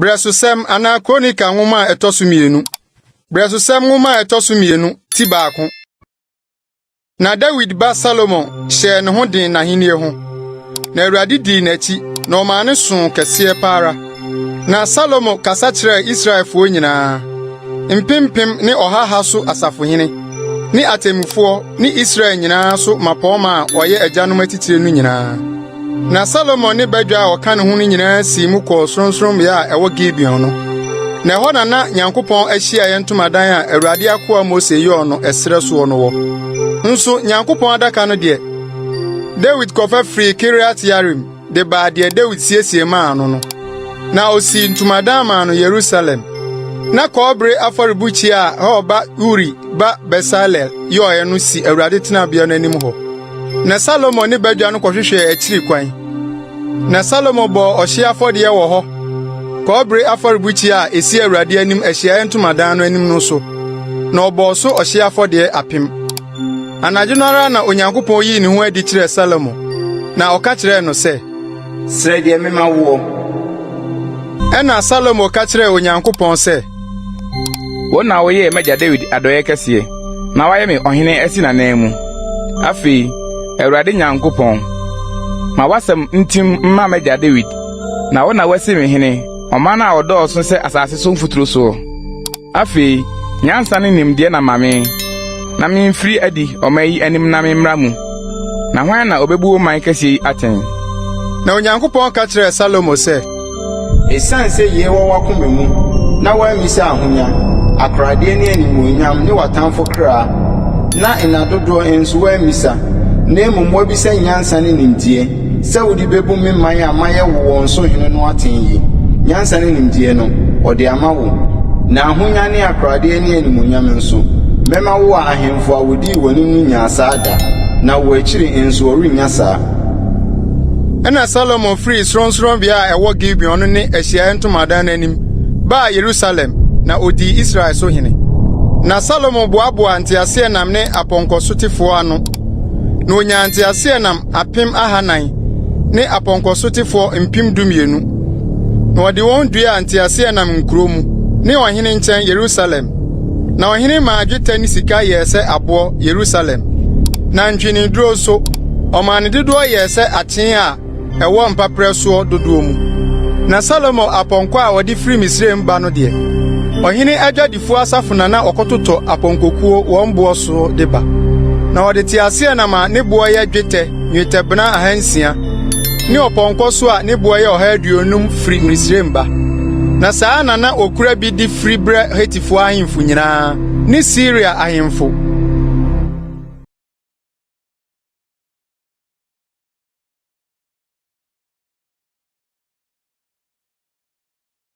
Brɛsosɛm anaa Kronika nwoma a ɛtɔ so mmienu. Brɛsosɛm nwoma a ɛtɔ so mmienu ti baako. Na Dawid ba Salomon hyɛɛ ne ho den n'ahenni ho, na Awurade dii n'akyi na ɔmaa ne soo kɛseɛ pa ara. Na Salomo kasa kyerɛɛ Israelfoɔ nyinaa, mpempem ne ɔhaha so asafohene, ne atemmufoɔ ne Israel nyinaa so mmapɔmma a wɔyɛ agyanom atitire no nyinaa. Na Salomo ne badwa a ɔka ne ho no nyinaa sii mu kɔɔ sorɔnsorɔmmea a ɛwɔ Gibeon no. Na ɛhɔ na na Nyankopɔn ahyiaeɛ ntomadan a Awurade akoa Mose yɔɔ no ɛserɛ soɔ no wɔ. Nso Nyankopɔn adaka no deɛ, Dawid kɔfa firii Kiriat-Yearim. de baa deɛ Dawid siesie maa no no. Na osii ntomadan maa no Yerusalem. Na kɔbere afɔrebukyia a Hur ba Uri ba Besalel yɔeɛ no si Awurade tenabea no anim hɔ. Na Salomo ne badwa no kɔhwehwɛɛ akyiri kwan. Na Salomo bɔɔ ɔhyeɛ afɔdeɛ wɔ hɔ, kɔbere afɔrebukyia a esi Awurade anim Ahyiaeɛ Ntomadan no anim no so, na ɔbɔɔ so ɔhyeɛ afɔdeɛ apem. Anadwo no ara na Onyankopɔn yii ne ho adi kyerɛɛ Salomo, na ɔka kyerɛɛ no sɛ, Srɛ deɛ mema woɔ. Ɛnna Salomo ka kyerɛɛ Onyankopɔn sɛ, Wo na woyɛɛ m'agya Dawid adɔeɛ kɛseɛ, na woayɛ me ɔhene asi n'ananmu. Afei, Awurade Nyankopɔn, ma w'asɛm ntim mma m'agya Dawid, na wo na woasi me hene ɔman a ɔdɔɔso sɛ asase so mfuturo soɔ. Afei, nyansa ne nimdeɛ na ma me, na mimfiri adi ɔman yi anim na memmra mu. Na hwan na obebu wo man kɛseɛ yi atɛn? Na Onyankopɔn ka kyerɛɛ Salomo sɛ. Esiane sɛ yei wɔ w'akoma mu, na woammisa ahonya, akoradeɛ ne animuonyam ne w'atamfo kra, na nna dodoɔ nso woammisa, na mmom woabisa nyansa ne nimdeɛ, Sɛ wode bebu me man a mayɛ wo wɔn so hene no atɛn yi, nyansa ne nimdeɛ no, ɔde ama wo, na ahonya ne akoradeɛ ne animuonyam nso. Mɛma wo a ahemfo a wɔdii w'anim no nyaa saa da, na wo akyiri nso wɔrennya saa. Ɛnna Salomo firii sorɔnsorɔnbea a ɛwɔ Gibeon no ne Ahyiaeɛ Ntomadan no anim baa Yerusalem, na ɔdii Israel so hene. Na Salomo boaboaa nteaseɛnam ne apɔnkɔsotefoɔ ano, na ɔnyaa nteaseɛnam apem ahanan ne apɔnkɔsotefoɔ mpem dumienu, na wɔde wɔn duaa nteaseɛnam nkuro mu ne ɔhene nkyɛn Yerusalem. Na ɔhene maa dwetɛ ne sika yɛɛ sɛ aboɔ Yerusalem, na ntweneduro nso, ɔmaa ne dodoɔ yɛɛ sɛ akyee a ɛwɔ mpaperɛ soɔ dodoɔ mu. Na Salomo apɔnkɔ a wɔde firi Misraim ba no deɛ, ɔhene adwadifoɔ Fu asafo na na ɔkɔtotɔ apɔnkɔkuo wɔn boɔ so de ba. Na ɔde teaseɛnam a ne boɔ yɛ dwetɛ nnwetɛbena ahansia ne ɔpɔnkɔ so a ne boɔ yɛ ɔha aduonum firi Misraim ba. Na saa ara na na ɔkura bi de firi brɛ Hetifoɔ ahemfo nyinaa ne Siria ahemfo.